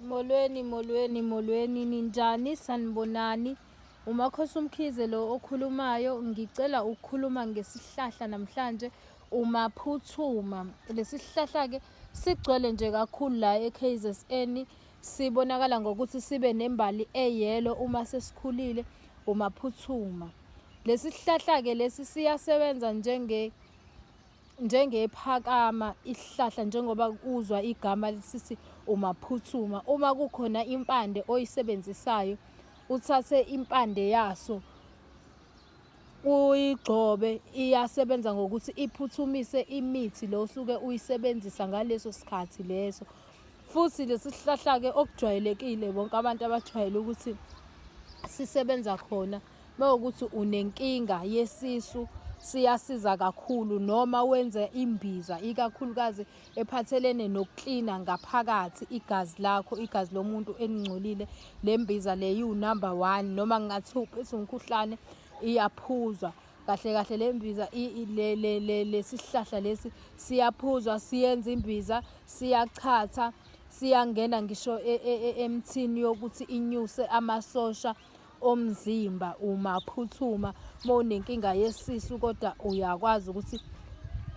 Molweni, molweni, molweni, ninjani, sanibonani. Umakhosi uMkhize lo okhulumayo, ngicela ukukhuluma ngesihlahla namhlanje umaphuthuma. Lesihlahla-ke sigcwele nje kakhulu la eKZN, sibonakala ngokuthi sibe nembali eyelo uma sesikhulile umaphuthuma. Lesihlahla-ke lesi siyasebenza njenge njengephakama isihlahla njengoba uzwa igama lisithi umaphuthuma uma kukhona impande oyisebenzisayo uthathe impande yaso uyigcobe iyasebenza ngokuthi iphuthumise imithi lo usuke uyisebenzisa ngaleso sikhathi leso futhi lesi sihlahla-ke okujwayelekile bonke abantu abajwayele ukuthi sisebenza khona Mawukuthi unenkinga yesisu siyasiza kakhulu noma wenze imbiza ikakhulukazi ephathelene nokuklina ngaphakathi igazi lakho igazi lomuntu elingcolile le mbiza le yiwu number one noma ngingathi uphethwe umkhuhlane iyaphuzwa kahle kahle le mbiza lesihlahla lesi siyaphuzwa siyenza imbiza siyachatha siyangena ngisho e, e, e, emthini yokuthi inyuse amasosha omzimba umaphuthuma mawunenkinga yesisu kodwa uyakwazi ukuthi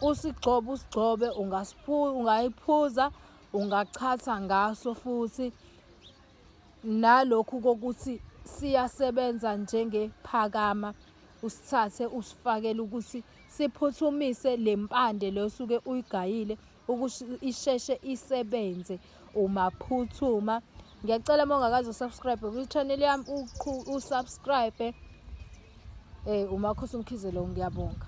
usigcobe usigcobe ungayiphuza ungachatha ngaso futhi nalokhu kokuthi siyasebenza njengephakama usithathe usifakele ukuthi siphuthumise le mpande le osuke uyigayile ukuthi isheshe isebenze umaphuthuma ngiyacela uma ungakazi usubscribe kwi-channel yami usubscribe um eh, umakhosi umkhizelo ngiyabonga